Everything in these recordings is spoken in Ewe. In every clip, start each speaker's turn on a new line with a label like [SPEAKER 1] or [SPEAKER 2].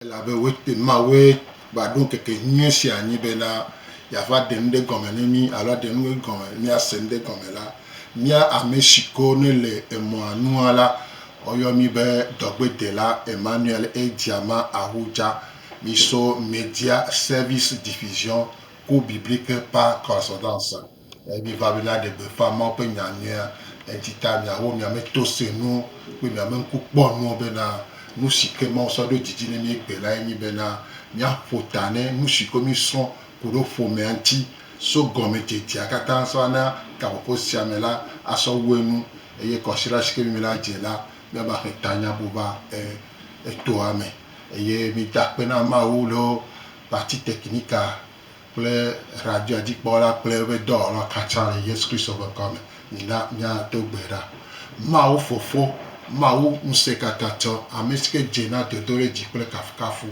[SPEAKER 1] Elabe wote Mawue va ɖo ŋkeke nyui sia anyi bena yeava ɖe nu ɖe gɔme ne mí alo aɖe nu ɖe gɔme ne míase nu ɖe gɔme la, mía amesiko nele emɔa nua la, woyɔ mí be dɔgbedela Emmanuel Edjama Ahuja, mí so Media Service Division ku Biblique par Correspondance. Miva be míaɖe gbeƒã Mawu ƒe nya nyuia ŋuti ta, miawɔ miame tosenuwo kple miame ŋkukpɔnuwo bena nusi ke Mawu sɔ ɖo didi ne mí gbe lae nye bena míaƒo ta ne nusi ke mísrɔ̃ ku ɖo ƒomea ŋuti so gɔmedzedzea katã sɔ ana gaƒoƒo sia me la asɔ wu enu eye kɔsiɖa si ke mí la dze la míava xe tanya ƒo va etoa me eye mida kpe na Mawu loo Partie Technical kple Radiodikpɔla kple eƒe dɔwɔla katã le Yesu Kristo ƒe ŋkɔ me, mina míado gbe ɖa. Mawu Fofo, Mawu Ŋusẽkatãtɔ, ame si ke dze na dodoɖedzi kple kafukafu,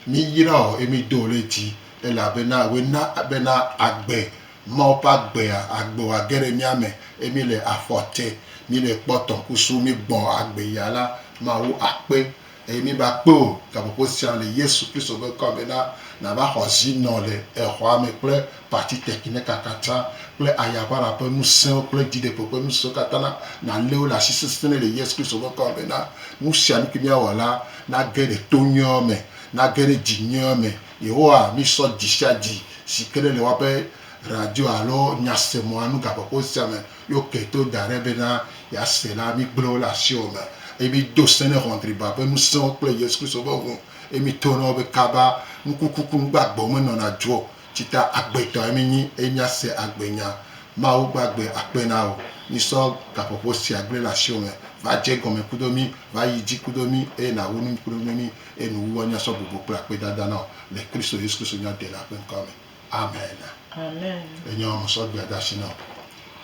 [SPEAKER 1] míyra wò eye mído wò ɖe dzi, elabena wòe na bena agbe, Mawu ƒe agbea, agbe wòage ɖe mía me, eye míele afɔ te, míele kpɔtɔ kusu, míegbɔ agbe ya la, Mawu akpe. Eye míva kpe wò gaƒoƒo sia le Yesu Kristo ƒe ŋkɔ me na nàva xɔ zi nɔ le exɔa me kple pati tekineka katã kple ayaʋara ƒe ŋusẽwo kple dziɖegbe ƒe ŋusẽwo katã na nàlé wo le asi sesẽe le Yesu Kristo ƒe ŋkɔ me na nu sia nu ki míawɔ la nage ɖe to nyuiawo me, nage ɖe dzi nyuiawo me. Yehowa, mísɔ dzi sia dzi si ke ɖe le woaƒe radio alo nyasemɔa nu gaƒoƒo sia me Yewo kpe to da ɖe bena yease la, migblẽ wo le asiwò me, eye mido se ne ʋɔnudriba ƒe ŋusẽwo kple Yesu Kristo ƒe ŋu, eye mito na wo be kaba, nukukuku nugbagbewo menɔna dzo o, tsi ta agbetɔe minyi, eye miase agbenya. Mawu gbagbe akpe na wò. Misɔ gaƒoƒo sia gblẽ le asiwò me, va dze egɔme kudo mí, va yi dzi kudo mí, eye nàwu nu kudo mí, eye nuwuwɔ nya sɔ bubu kple akpedada na wò, le Kristo Yesu Kristo nyadela ƒe ŋkɔa me. Amen.
[SPEAKER 2] Amen. Enye wɔme sɔ gbea
[SPEAKER 1] ɖe asi na wò.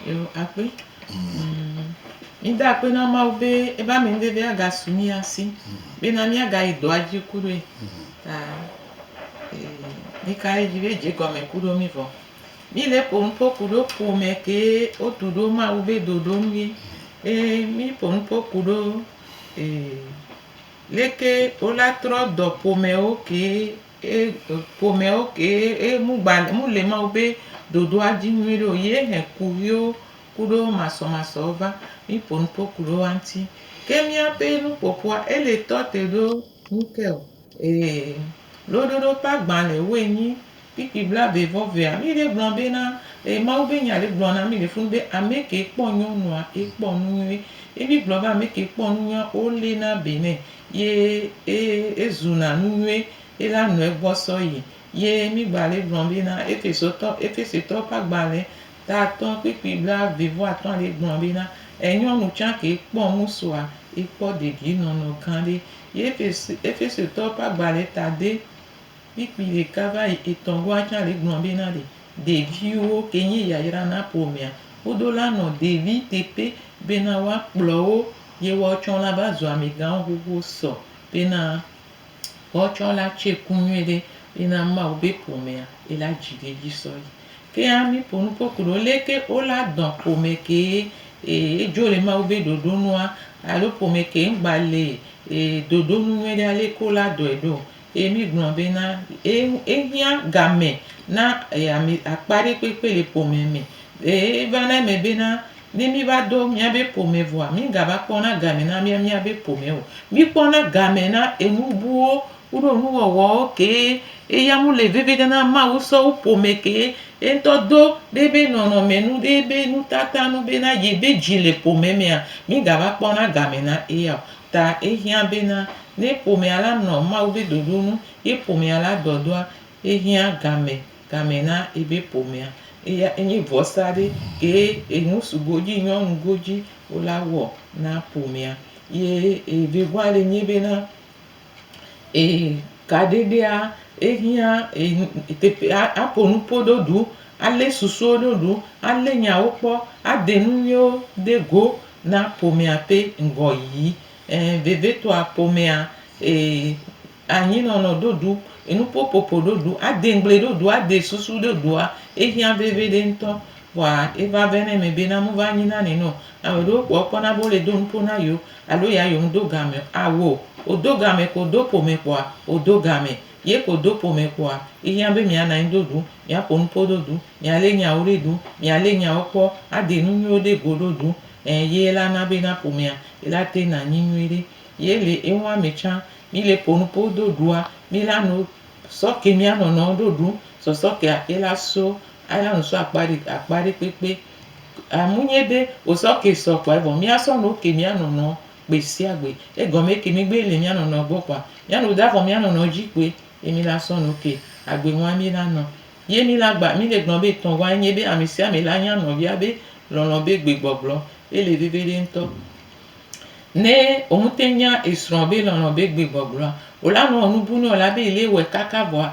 [SPEAKER 1] Yo akpe.
[SPEAKER 2] Mi da akpe na Mawu be ebe amenuveve aga su mia si be na miaga yi dɔa dzi ku ɖoe. Ta mi ka ɖe dzi be dze gɔme ku ɖo mi vɔ. Mi le ƒo nuƒo ku ɖo ƒome ke wotu ɖo Mawu be ɖoɖo nu ye. Be mi ƒo nuƒo ku ɖo leke wola trɔ dɔ ƒomewo ke Ye ƒomɛwo ke ye mu gba le mu le Mawu be ɖoɖoa dzi nyuiɖe o. Ye hɛn kuxiwo kuɖo masɔmasɔwo va. Mi ƒo nupo kuɖo woa ŋti. Ke miaƒe nuƒoƒoa ele tɔ te ɖo nu ke o. Ee, loɖoɖo ƒe agbalẽwoe nyi kpikpi blaevevɔvea. Mi ɖe gblɔ be na, ee, Mawu be nya ɖe gblɔ na mi le funu be ame ke kpɔ nyɔnua, ekpɔ nu nyui. Ye mi gblɔ be ame ke kpɔ nu nyuia, wo lena be nɛ. ye e e zuna nu nyuie ye la nɔe gbɔ sɔ yi ye mi gba le gblɔ be na efesotɔ efesitɔ ƒe agbalẽ ta atɔ kpikpi bla ve vɔ atɔ le gblɔ be na enyɔnu tsã ke kpɔ nu sua ye kpɔ degi nɔnɔ gã ɖe ye efesi efesitɔ ƒe agbalẽ ta de kpikpi ɖeka va yi etɔ goa tsã le gblɔ be na ɖe ɖeviwo ke nye yayra na ƒomea woɖo la nɔ ɖevi teƒe be na woa kplɔwo Yewɔ tsɔ la va zu ami gãwo xoxo sɔ be na wɔ tsɔ la tse ku nyuie ɖe be na Mawu be ƒomea be la dzi ɖe dzi sɔ yi. Ke a mi ƒo nuƒo ku ɖo le ke wo la dɔn ƒome ke e dzo le Mawu be ɖoɖo nua alo ƒome ke ŋgba le e ɖoɖo nu nyuie ɖe ale ke wo la dɔe ɖo. Eye mígblɔ bena, Ehiã gamɛ na ame akpa ɖe kpekpe le ƒomea me. Eye evana eme bena, ne míva do míabe ƒome vɔa, mígava kpɔna gamɛ na míabe ƒome o. Míkpɔna gamɛ na enu buwo kuɖo nuwɔwɔwo kee. Eya ŋu le veviɖe na Mawu sɔ wu ƒome kee. Yeŋtɔ do ɖe eƒe nɔnɔme nu, ɖe eƒe nutata nu bena yebe dzi le ƒome mea, mígava kpɔna gamɛ na eya o. Ta ehiã bena, ne ƒomea la nɔ Mawu be ɖoɖo nu, ye ƒomea la dɔdɔa, ehiã game, game na ebe ƒomea. Eya enye vɔsa ɖe ke enu su godzi nyɔnu godzi wo la wɔ na ƒomea. Ye evegoa le nye bena, e kaɖeɖea ehiã enu teƒe a aƒo nuƒo ɖo ɖu, ale susuwo ɖo ɖu, ale nyawo kpɔ, ade nu nyuiwo ɖe go, Na ƒomea ƒe ŋgɔyiyi. Ẽ, vevitɔa ƒomea e anyinɔnɔ ɖoɖu, enuƒoƒoƒo ɖoɖu, ade ŋgble ɖoɖu, ade susu ɖoɖua, ehiã veviɖe ŋutɔ. Vɔa eva vɛ na eme be na mova nyi na nɛnɛ o. Ame ɖewo kpɔ ekpɔna be wole do nuƒo na yewo alo ya yewo medo gameo, ao, wòdo game ko wòdo ƒome kpɔa, wòdo game. Ye ko do ƒome kpoa ehiã be mia nanyi do ɖu, mia ƒo nupo do ɖu, mia le nyawo ɖe ɖu, mia le nyawo kpɔ, a de nu nyuiwo ɖe go ɖo ɖu. Ẽ, ye la na be na ƒomea yi la te na nyi nyui ɖe. Ye le ewa me tsã. Mi le ƒo nupo do ɖua, mi la no sɔ ke mia nɔnɔwo ɖo ɖu. Sɔsɔ kea e la so, a la no so akpa ɖe akpa ɖe kpekpe. Amu nyɛ be, wosɔ ke sɔ kpoa evɔ mia sɔ no ke mia nɔnɔwo. gbe sia gbe. Egɔme eke migbe le mía nɔnɔ gbɔ kpoa mía no da vɔ mía nɔnɔ dzi kpoe ye mi la sɔ no ke agbe ŋua mi la nɔ. Ye mi la gba mi le gblɔ be etɔ̃ ŋua enye be ame sia ame la nya nɔvia be lɔlɔ be gbe gbɔgblɔ ye le veviɖe ŋutɔ. Ne wo mu te nya esrɔ be lɔlɔ be gbe gbɔgblɔa wo la nɔ enu bu nɔ la be ele wɔe kaka vɔa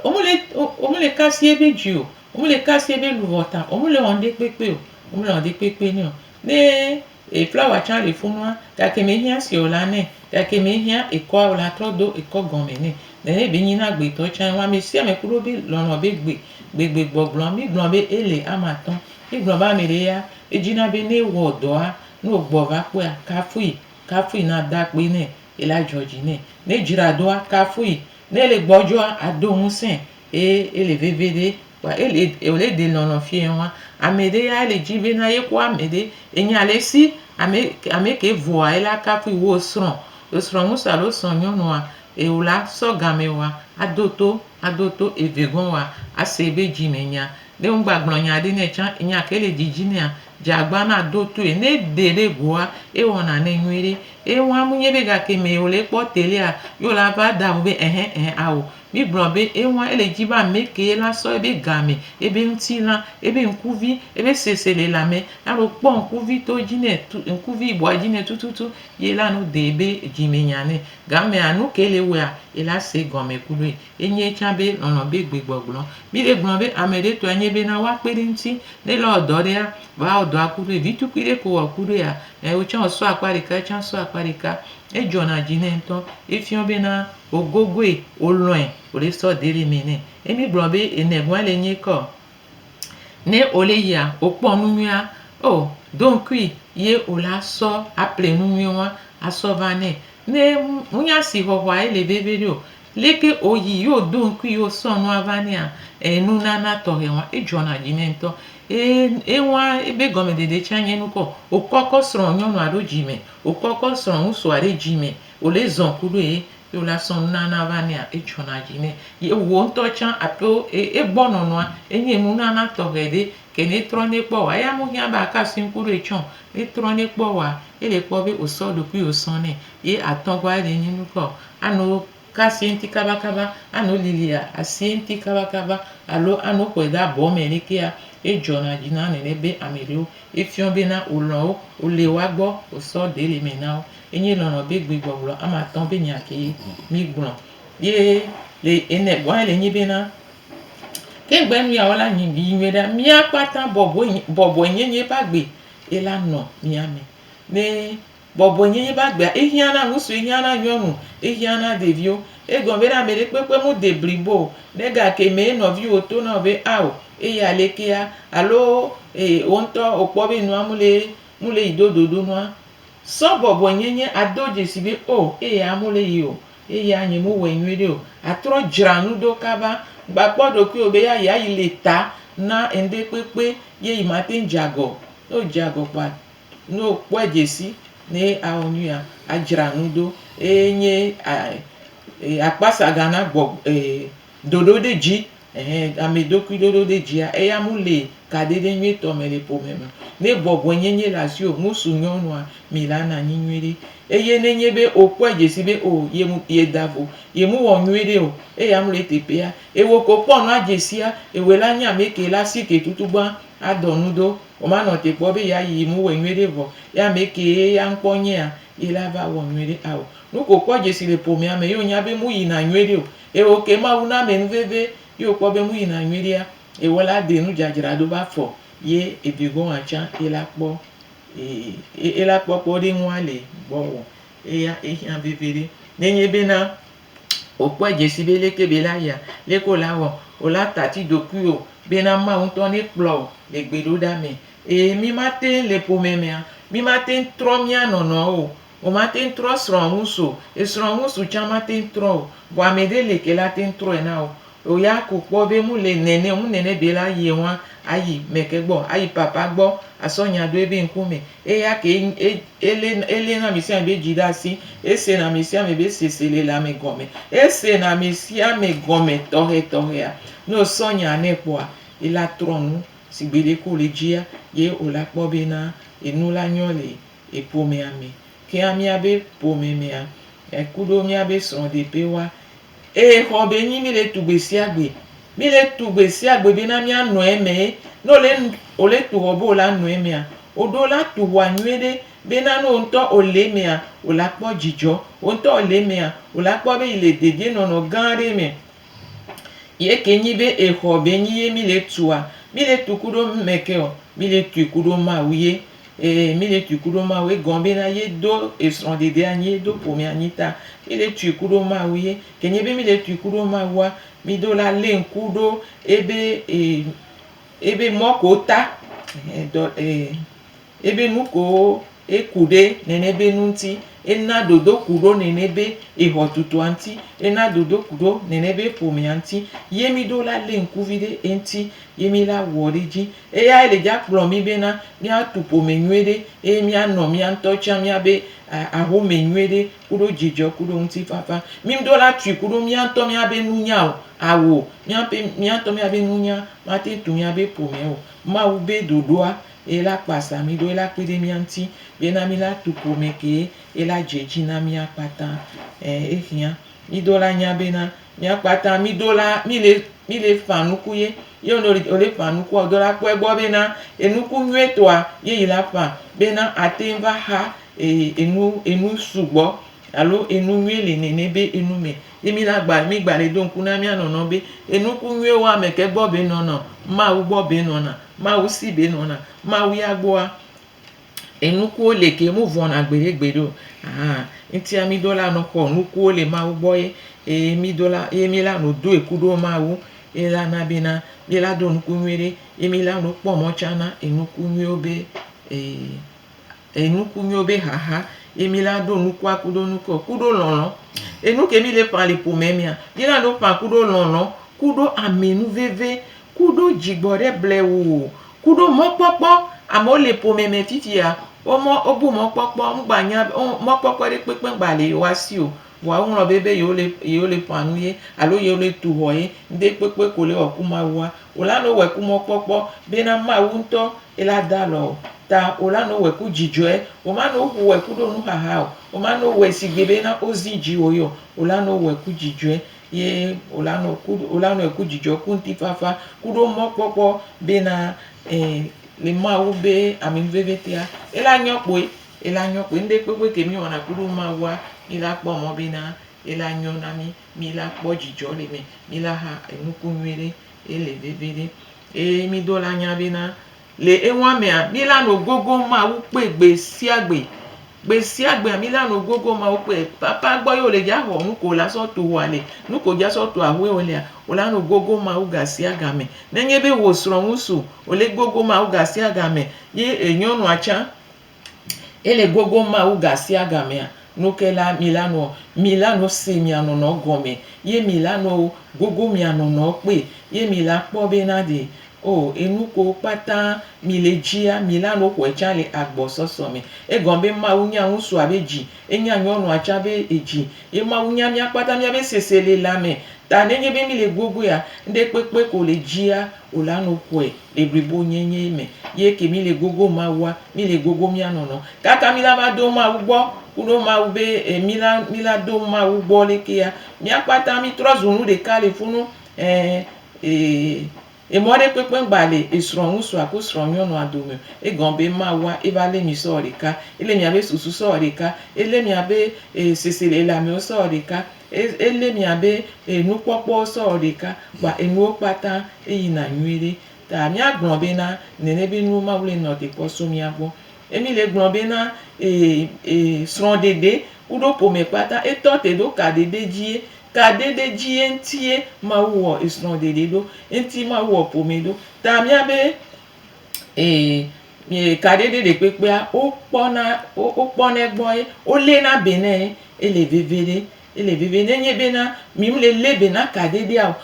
[SPEAKER 2] wo me le wo me le kasi ebe dzi o, wo me le kasi ebe luvɔ ta o, wo me le wɔ ŋɖe kpekpe o, wo me le wɔ ŋɖe kpekpe nɛ o. Ne. E flawa tsã le funua gake me hiã se o la nɛ gake me hiã ekɔa o la trɔ do ekɔ gɔme nɛ. Nene be nyina gbe tɔ tsã ŋua me sia me kuɖo be lɔlɔ be gbe gbe gbe gbɔgblɔ mi gblɔ be ele ama atɔ mi gblɔ be ame ɖe ya edzi na be ne wɔ dɔa ne o gbɔ va kpɔa kafui kafui na da kpe nɛ ela dzɔ dzi nɛ ne dzra doa kafui ne le gbɔdzɔa ado ŋusẽ Ye ele veve ɖe kpa ele wòle ɖe lɔlɔ̃ fiɛ wa. Ame ɖe ya ele dzi bena yekpɔ ame ɖe. Enya le esi ame ame ke vɔa ela kafui wò srɔ̃. Wò srɔ̃ŋusu alo srɔ̃nyɔnua eo la sɔ game wa ado to ado to evegɔ̃ wa ase ebe dzi me nya. Ne wogba gblɔ nya ɖe nɛ tsã enya ke le dzidzi nɛa dzi agba na do toe. Ne eɖe ɖe goa ewɔna nɛ nyuiɖe. Ye wa mu nyi be gake me wòle kpɔ telea ye wòla va da wò be ɛhɛ ɛhɛ ao. Míegblɔna be eŋua, ele edzi be amekee la sɔ ebe game, ebe ŋutilã, ebe ŋkuvi, ebe sese le lãme, alo kpɔ ŋkuvi to edzi nɛ tu, ŋkuvi yibɔa dzi nɛ tututu, ye la nu dee be dzi me nya nɛ. Gamea, nukee le wɔea? Ye la se gɔme kloe. Enyee tsã be lɔlɔ̃ be gbegbɔgblɔ. Míle gblɔm be ameɖe tɔe nye be na woakpe ɖe eŋuti. Ne ele wɔ dɔ ɖea, va wɔ dɔa ku ɖoe. Vitukui ɖe ko wɔ ku ɖoea? Ẽ, wò tsã wòsɔ akpa ɖeka, ye tsã sɔ akpa ɖeka. Edzɔna dzi nɛ ŋutɔ. Efiɔ be na Wogogoe, wolɔ̃e, wòle sɔ deli mɛ nɛ. Ye mi gblɔ be enɛgɔa le nyi kɔ. Nɛ ole yia, okpɔ nunyuia, o, doŋkui ye ola sɔ aple nunyui wa asɔ va nɛ. Nɛ munya asixɔxɔa ye le veviɖe o, leke oyi ye odoŋkui ye osɔ nua va nɛa, enunana tɔxɛ wa, edzɔna dzi nɛ ŋtɔ. E, ewa ebe gɔmeɖeɖe tsa nye nukɔ, okɔkɔ srɔ̃ nyɔnua ɖo dzi mɛ, okɔkɔ srɔ̃ ŋutsua ɖe dzi mɛ. Wòle zɔn kuɖoe ye wòla sɔn nunana va nɛa, edzɔna dzi nɛ. Ye wò ŋutɔ tsã ato egbɔ nɔnɔa, enye nunana tɔxɛ ɖe. Ke ne etrɔ nɛ kpɔ wòa, eya mehiã be aka asi ŋku ɖoe tsã o. Ne etrɔ nɛ kpɔ wòa, ele kpɔ be wòsɔ eɖokui wòsɔ nɛ. Ye atɔgɔa ele nyi nu ka o? Ano ka asi eŋuti kabakaba, ano lili asi eŋuti kabakaba alo ano xɔe ɖe abɔ me ɖekea? Edzɔna dzi na nene be ame ɖewo. Efiɔ bena wòlɔ̃ wo, wòle woa gbɔ, wòsɔ ɖe le eme na wo. Enye lɔlɔ̃ be gbe gbɔgblɔ ame atɔ̃ be nya ke mi gblɔ ye le ene gbɔ ele nyi be na ke gbe nu ya wo la nyi yi nyuie ɖa mia kpata bɔbɔe nyi bɔbɔe nye nye ba gbe ela nɔ mia me ne bɔbɔe nye nye ba gbea ehiã na ŋusu ehiã na nyɔnu ehiã na ɖeviwo egɔme be na ame ɖe kpekpe mu de blibo o ne gake me ye nɔviwo to na be ao eya le kea alo e woŋtɔ okpɔ be nua mu le mu le yi dododo nua Sɔ bɔbɔenyenye ado dzesi be, O, eya mole yi o, eya nye mewɔe nyuiɖe o, atrɔ dzra nu ɖo kaba. Mègbakpɔ ɖokuiwò be ya yeayi le ta na enuɖe kpekpe ye yi mate ŋu dze agɔ o. Ne wòdze agɔ kpɔa, ne wòkpɔe dze si ne awɔ nyuia, adzra nu ɖo eye nye akpasaga nagbɔ ɖoɖoɖedzi. Ɛhɛ, amɛ ɖokui ɖoɖo ɖe djia eya mu le kaɖeɖe nyuitɔ me le ƒome me. Ne bɔbɔe nyenye le asiwo ŋusu nyɔnua, mi la na nyi nyuiɖe. Eye ne nye be o kpɔe djesi be o ye mu ye da vo, ye mu wɔ nyuiɖe o, eya mu le teƒea, ewo ko kpɔ nua djesia, ewoe la nye amɛ ke la si ke tutugbã a dɔ nu ɖo. O ma nɔ te kpɔ be ya yi mu wɔe nyuiɖe vɔ, ye amɛ ke ye ya ŋkpɔ nyea, ye la va wɔ nyuiɖe ao. Nuke o kpɔ djesi le ƒomea me ye o nya be mu yi na nyuiɖe o, Eye wòke Mawu na amɛ nu veve, ye wòkpɔ be enu yina nyuiɖea, ewɔ la de nu dzadzra do be afɔ, ye ebi gɔnwa tsã ye la kpɔ e, ye la kpɔ kpɔ ɖe ŋua le gbɔwɔ. Eya ehiã veviɖe. Nenye be na wòkpɔ edze si be leke be la yia, leke wòle awɔ, wòle atati ɖokuiwò be na Mawu ŋutɔ ne kplɔ wò le gbeɖoɖa me. Eye mí mate ŋu le ƒome mea, mí mate ŋu trɔ mía nɔnɔewo o. Womate ŋu trɔ srɔ̃ ŋusu o. Esrɔ̃ ŋusu tsã mate ŋu trɔ o. Vɔ ame ɖe li ke la te ŋu trɔe na wò. Wò ya ko kpɔ be mu le nɛnɛ o, mu nɛnɛ be la yie ŋua, ayi mɛke gbɔ, ayi papa gbɔ asɔ nya ɖo ebe ŋku me. Eya ke e, e, ele, ele na ame sia ame be dzi ɖe asi. Ese na ame sia ame be sese le le ame gɔme. Ese na ame sia ame gɔme tɔxɛ tɔxɛa. Ne wò sɔ nya nɛ kpɔa, ela trɔ nu. Si gbeɖe ke wòle dzia, ye wòla kpɔ be na enu la nyɔ le yi ƒomea me, kea míabe ƒome mea ku ɖo míabe srɔ̃ɖeƒe wa. Ee, xɔ be nyi mi le tu gbe sia gbe. Mi le tu gbe sia gbe bena mía nɔ eme. Ne wole nu wole tu xɔ be wò la nɔ emea, wò ɖo la tu xɔa nyuie ɖe bena ne wò ŋutɔ wò le emea wò la kpɔ dzidzɔ. Wò ŋutɔ wò le emea wò la kpɔ be yi le dedienɔnɔ gã aɖe me. Ye ke nyi be exɔ be nyi ye mí le tua? Mí le tu kuɖo nu me ke o. Mí le tui kuɖo Mawu ye. Ee, mí le tui kuɖo Mawu ye. Egɔme be na ye do esrɔ̃ɖeɖe anyi, ye do ƒome anyi ta mí le tui kuɖo Mawu ye. Ke nyi be mí le tui kuɖo Mawua, mí ɖo la lé ŋku ɖo ebe e ebe mɔ ke wota ehe dɔ e. Ebe nu kowo eku ɖe nɛnɛ be nu ŋuti. Ena dodoku ɖo nɛnɛ be exɔtutua ŋuti. Ena dodoku ɖo nɛnɛ be ƒomea ŋuti. Ye mí ɖo la lé ŋkuvi ɖe eŋuti ye mí la wɔ ɖe edzi. Eyae le dza kplɔ mí bena míatu ƒome nyuie ɖe eye míanɔ mía ŋutɔ tsã míabe axome nyuie ɖe kuɖo dzidzɔ kuɖo ŋutifafa. Mí ŋɖo la tui kuɖo mía ŋutɔ míabe nunya o. Ao, míaƒe, mía ŋutɔ míabe nunya mate ŋu tu míabe ƒomea o. Mawu be ɖoɖoa eye la kpa sa mí ɖo, ye la kpe ɖe mía ŋuti, ye na mí la tu ƒome ke, ye la dze dzi na mía kpata. Ẽ, exiã. Mí do la nya bena, mía kpata mí do la, mí le, mí le ƒã nuku ye. Ye wonɔ le, wole ƒã nukua, wo do la kpɔɛ gbɔ bena enuku nyuie tɔa ye yi la ƒã bena ateŋ va xa e, enu, enu sugbɔ alo enu nyuie le nɛnɛ be enu me. Yi mi la gba mi gba le do ŋku na mia nɔnɔ be enuku nyuie wo ame ke gbɔ be nɔna o, Mawu gbɔ be nɔna, Mawu si be nɔna, Mawu ya gbɔa enuku wo le ke mu vɔ na gbeɖe gbeɖe o. Ahan, ŋtia mi do la nɔ xɔ nuku wo le Mawu gbɔ ye eye mi do la ye mi la nɔ do eku ɖo Mawu ye la na be na mi la do nuku nyuie ɖe ye mi la nɔ kpɔ mɔ can na enuku nyuie wo be e. E nuku nyuiwo be xaxa ye mi la ɖo nukua kuɖo nukɔ kuɖo lɔlɔ. E nu ke mi le ƒã le ƒomɛ mea, mi la ɖo ƒã kuɖo lɔlɔ, kuɖo ame nu veve, kuɖo dzigbɔ ɖe blewu, kuɖo mɔkpɔkpɔ. Amewo le ƒomɛ me fifia wo mɔ wo bu mɔkpɔkpɔ ŋgba nya be mɔkpɔkpɔ ɖe kpekpe ŋgba le yewoa si o. Vɔa woŋlɔ be be yewo le yewo le ƒã nu ye alo yewo le tu xɔ ye. Ŋɖe kpekpe ko le wɔ ku Mawua o la no wɔ ku mɔkpɔkpɔ be na Mawu ŋtɔ ye la da alɔ o ta o la no wɔ ku dzidzɔɛ. O ma no ku wɔ ku ɖo nu xaxa o. O ma no wɔ si gbe be na o zi dzi wo yɔ o la no wɔ ku dzidzɔɛ ye o la no ku o la no ku dzidzɔ ku ŋti fafa ku ɖo mɔkpɔkpɔ be na le Mawu be ame ŋvevetea ye la nyɔ kpoe. Ele anyɔ kpe ŋɖekpekpe ke míwɔna kuɖo Mawua, míla kpɔ mɔ bena ele anyɔ na mí, míla kpɔ djidjɔ le eme, míla ha enuku nyuiɖe ele veviɖe. Eye mído la nya bena le eŋua mea, míla no gogo Mawu kpe gbesiagbe. Gbesiagbea míla no gogo Mawu kpe. Papa gbɔ ye wole dja xɔ nuke wo la sɔ tu ŋua le. Nuke wo dja sɔ tu aƒe wo lea, wo la no gogo Mawu gasiagame. Ne nye be wò srɔ̃ ŋusu, wo le gogo Mawu gasiagame. Ye enyɔnua tsã, Ele gogo Mawu gasiagamea nu ke la, mila nu, mila nu si mianɔnɔ gɔme, ye mila nu gogo mianɔnɔ kpli, ye mila kpɔ bena ɖe o enukowo kpata mile dzia, mila nu xɔe tsã le agbɔsɔsɔ me. Egɔme be Mawu nya ŋutsua be dzi, enya nyɔnua tsã be edzi, ye Mawu nya mía kpata míabe seselelame ta. Nenye be mile gogoea, ŋɖekpekpe ko le dzia o la nu xɔe. Le blibonyenye me ye ke míle gogom Mawua, míle gogom mía nɔnɔ. Kaka mí la va do Mawu gbɔ ku ɖo Mawu be e mí la mí la do Mawu gbɔ ɖekea, mía kpata mí trɔ zu nu ɖeka le funu ɛ e emɔ ɖe kpekpe ŋgba le esrɔ̃ ŋusua ku srɔ̃ nyɔnua dome o. Egɔ be Mawua e va le mí sɔ ɖeka. Ele mía be susu sɔ ɖeka. Ele mía be e seselelame wo sɔ ɖeka. Ele mia be enukpɔkpɔ sɔ wɔ ɖeka kpa enuwo kpata eyi na nyuie ɖe. Ta mia gblɔ be na nene be nuwo ma wle nɔ te kpɔ so mia gbɔ. Emi le gblɔ be na srɔ ɖeɖe kuɖo ƒome kpata etɔ te ɖo ka ɖeɖe dzie. Ka ɖeɖe dzie ŋutie Mawu wɔ esrɔ ɖeɖe ɖo. Ŋuti Mawu wɔ ƒome ɖo. Ta mia be Ee, e kaɖiɖi ɖekpekpea, wokpɔna, wokpɔnɛ gbɔ ye woléna be nɛ ye ele veve ɖe, ele veve. Ne enye bena mi ŋle lé be na kaɖiɖia o,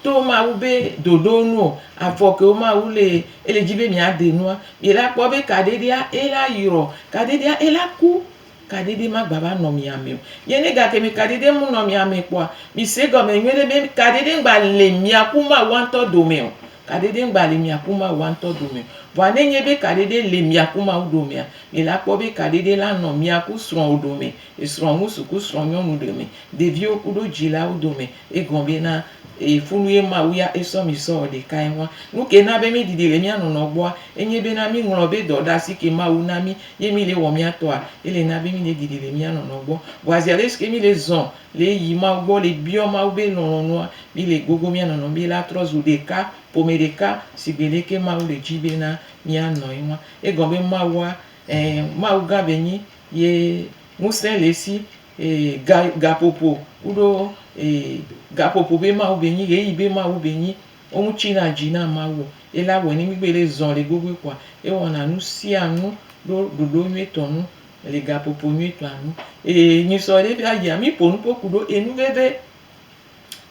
[SPEAKER 2] to Mawu be ɖoɖo nu o, afɔ ke wo Mawu le, ele dzi be mìaɖe nua, mìla kpɔ be kaɖiɖia ela yrɔ, kaɖiɖia ela ku. Kaɖiɖi magbava nɔ mia me o. Ye ne gake mi kaɖiɖi mu nɔ mia me kpɔa, mise egɔme nyuie ɖe be kaɖiɖi ŋgba le mia ku Mawua ŋutɔ dome o. Kaɖiɖi ŋgba le mia ku Mawua ŋutɔ dome o. Vɔa ne enye be kaɖiɖi le mia ku Mawu domea, mi la kpɔ be kaɖiɖi la nɔ mia ku srɔ̃wò dome, esrɔ̃ŋu sukusrɔ̃nyɔnu dome, ɖeviwo kuɖo dzilawo dome, Egɔme be na e fu nu ye Mawu ya e sɔ mi sɔ ɔ ɖeka ye ŋua. Nu ke na be mi ɖiɖi le mia nɔnɔ gbɔa, e nye be na mi ŋlɔ be dɔɖasi ke Mawu na mi ye mi le wɔ mia tɔ a, e le na be mi le ɖiɖi le mia nɔnɔ gbɔ. Vɔa zi ale si ke mi le zɔ le yi Mawu gbɔ le biɔ Mawu be lɔlɔnua, mi le gogo mia nɔnɔ mi la trɔ zu ɖeka, ƒome ɖeka sigbe le ke Mawu le dzi be na mia nɔ ye ŋua. Egɔme be Mawua, ɛɛ, Mawugã be nyi ye ŋuse le esi Ee, ga, gaƒoƒo, kuɖo, ee, gaƒoƒo be Mawu be nyi, ɣeyiɣi be Mawu be nyi. Wo ŋu tsi na dzi na Mawu o. Ye la wɔe ne migbe ɖe zɔn le gogoe kɔa, ewɔna nu sia nu ɖo ɖoɖo nyuietɔ nu le gaƒoƒo nyuietɔa nu. Ee, nyi sɔ ɖe ƒea yia, mi ƒonu ƒo kuɖo enu veve.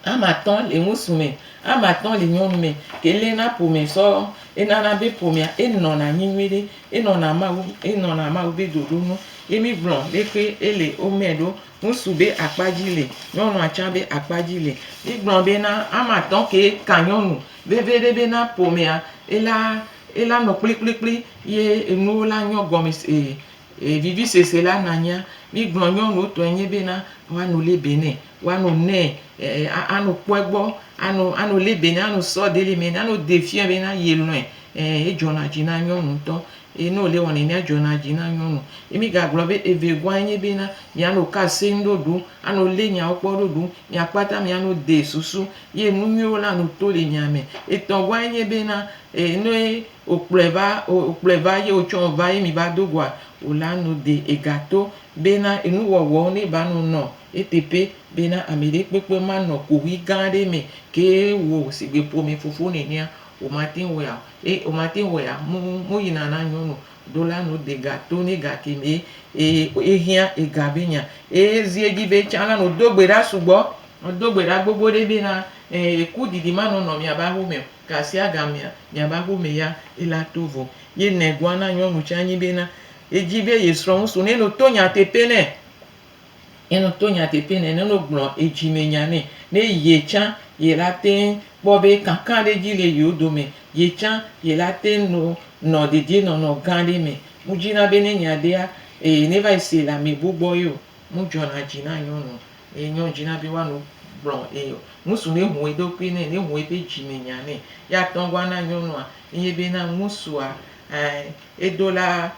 [SPEAKER 2] Ame atɔ̃ le ŋutsu me, ame atɔ̃ le nyɔnu me, ke lé na ƒome sɔ, enana be ƒomea, enɔna anyi nyuiɖe, enɔna Mawu, enɔna Mawu be ɖoɖo nu ye mí gblɔ leke ele wo me ɖo. Ŋutsu be akpa dzi le, nyɔnua tsã be akpa dzi le. Mí gblɔ be na ame atɔ̃ ke ka nyɔnu veviɖe be na ƒomea, ela, ela nɔ kplikplikpli ye enuwo la nyɔ gɔme se e, e vivisese la nanya. Mí gblɔ nyɔnuwo tɔe nye be na woano lebe nɛ. Woano nɛ ano kpɔe gbɔ ano ano li be nano sɔ deli me nano de fia be na ye lɔe eh edzɔna dzi na nyɔnu ŋutɔ ye no le wɔnɛ mia dzɔna dzi na nyɔnu ye mi gagblɔ be evegua enye be na miano kase ŋɖoɖo ano li nyawo kpɔ ɖoɖo mia kpata miano de susu ye nu nyuiwo la no to le mia me etɔ̃gua enye be na eh noe okplɔe va okplɔe va ye otsɔ va ye mi va do goa ola no de egato be na enuwɔwɔ ne ba no nɔ Eteƒe bena ameɖekpekpe manɔ koɣi gã aɖe me ke wò sigbe ƒome fofo nenea, womate ŋu wɔea o. Eye womate ŋu wɔea? Mo, moyina na nyɔnu ɖo la no de ga to nɛ ga kemɛ eye ehiã ega be nya. Eye zi edzi be tsã la no do gbe ɖa sugbɔ, no do gbe ɖa gbogbo ɖe bena, ẽ, ku didi manɔ nɔ miabe aƒe me o, gasiagamea, miabe aƒe me ya ela to vɔ. Ye nɛgoa na nyɔnu tsã nyi bena, edzi be ye srɔ̃ ŋu su nɛ no to nyateƒe nɛ. Ye ne to nyateƒe nɛ, ne wogblɔ edzimenya nɛ, ne ye tsã ye la teŋ kpɔ be kakaɖedzi le yewo dome, ye tsã ye la teŋ no nɔ dedienɔnɔ gã aɖe me. Mudzina be ne nya ɖea, ee, neva yi see le ame bubu gbɔ ye o. Mudzɔna dzi na nyɔnu be nyɔ dzina be woano kplɔ ee o. Ŋutsu ne ŋu eɖokui nɛ, ne ŋu eƒe dzimenya nɛ, ye ate ŋu ana nyɔnua enye be na ŋutsua, ɛɛ, eɖo la,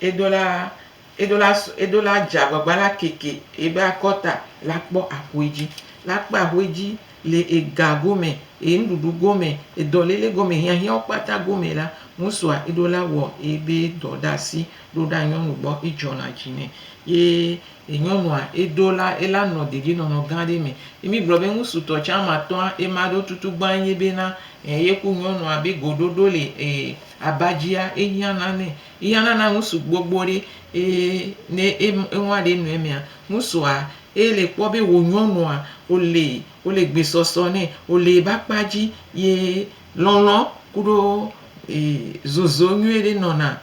[SPEAKER 2] eɖo la, Eɖo la su, eɖo la dze agbagba la keke ebe akɔta la kpɔ axoe dzi. La kpe axoe dzi le ega gome, e nuɖuɖu gome, e dɔlele gome, hiahiãwo kpata gome la, musua eɖo la wɔ ebe dɔ ɖe asi ɖo ɖa nyɔnu gbɔ, edzɔna dzi nɛ. Ye e nyɔnua eɖo la, ela nɔ dedienɔnɔ gã ɖe me. Ye mi gblɔ be ŋusutɔ tsã matɔa ema ɖo tutu gbã ye be na e ye ku nyɔnua be goɖoɖo le e aba dzia, ehiãna nɛ. Eya nana ŋusu gbogbo ɖe eye ne eŋua ɖe nɔe mea, ŋusua ele kpɔ be wò nyɔnua wòle wòle gbesɔsɔ nɛ, wòle ebe akpa dzi ye lɔlɔ kuɖo zozo nyuie ɖe nɔna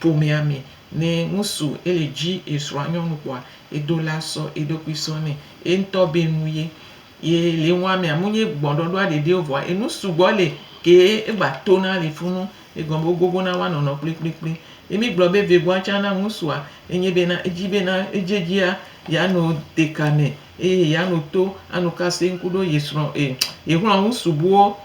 [SPEAKER 2] ƒomea me. Ne ŋusu ele dzi esrɔ̃a nyɔnu kpɔa, edo la sɔ eɖokui sɔ nɛ. Eŋutɔ be nu ye. Ye le eŋua mea, menye gbɔɖɔɖɔa ɖeɖe o vɔa enu sugbɔ li ke egba tona le funu. Egɔme be wogogo na woa nɔnɔ kplikplikpli. Ye mi gblɔ be vegoa tsã na ŋusua enye be na edzi be na edzedzia ya no deka me eye ya no to anu ka seŋ kuɖo ye srɔ̃ e ye xlɔ̃ ŋusu buwo.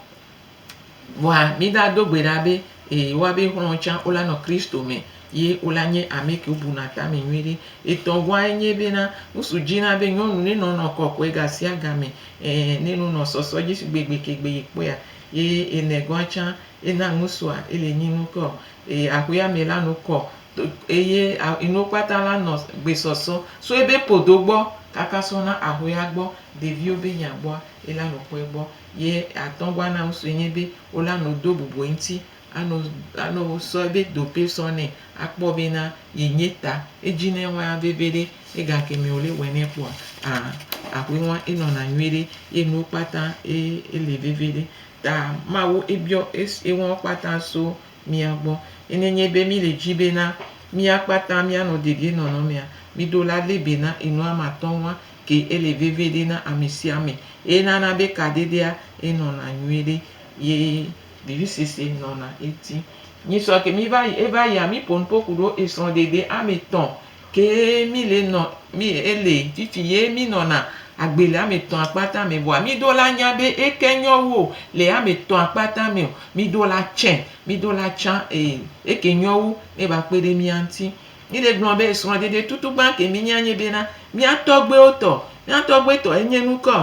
[SPEAKER 2] Vɔa mi da do gbe ɖa be e woa be xlɔ̃ tsã wola nɔ Kristo me ye wola nye ame ke wobu na tame nyuie ɖe. Etɔ̃ goa enye be na ŋusu dzi na be nyɔnu ne nɔ nɔ kɔkɔe gasiagame e ne no nɔ sɔsɔ dzi shigbe gbe ke gbe ye kpɔea. Ye ene goa tsã Ena ŋusua ili nyi nukɔ, eye ahuya me la nu kɔ, to, eye a, inuwo kpata la nɔ gbe sɔsɔ so ebe podo gbɔ kaka sɔ na ahuya gbɔ, ɖeviwo be nya gbɔa, ela nu kɔe gbɔ. Ye atɔn gbɔ ana ŋusue nye be wola nu do bubu eŋti, ano, ano sɔ ebe dope sɔ nɛ akpɔ be na ye nye ta edzi ne wa veveɖe, ega ke me wole wɛnɛ kpɔa, a, ahuewa enɔna nyuiɖe, ye nuwo kpata e, ele veveɖe. Ta Mawu ebiɔ es enuwo kpata so mía gbɔ. Ye nenye be míle dzi bena mía kpata míanɔ dedienɔnɔmea, miɖo la lé be na enua matɔ̃ŋua ke ele veve ɖe na amesiame. Eye nana be kaɖeɖea enɔna nyuiɖe ye vivisese nɔna eti. Nyisɔ ke miva yi eva yia miƒo nuƒo kuɖo esrɔ̃ɖeɖe ame tɔ̃ Kee mí le nɔ, mí e le fifi ye mí nɔna agbe le ame etɔ̃a kpata me. Vɔa mí ɖo la nya be eke nyɔ wu o le ame etɔ̃a kpata me ɔ, mí ɖo la tsɛ, mí ɖo la tsã e eke nyɔ wu ne va kpe ɖe mía ŋuti. Mí le gblɔ be srɔ̃ɖeɖe tutugbã ke mí nya nye bena mía tɔgbuiwo tɔ. Mía tɔgbuitɔ enye nukɔ.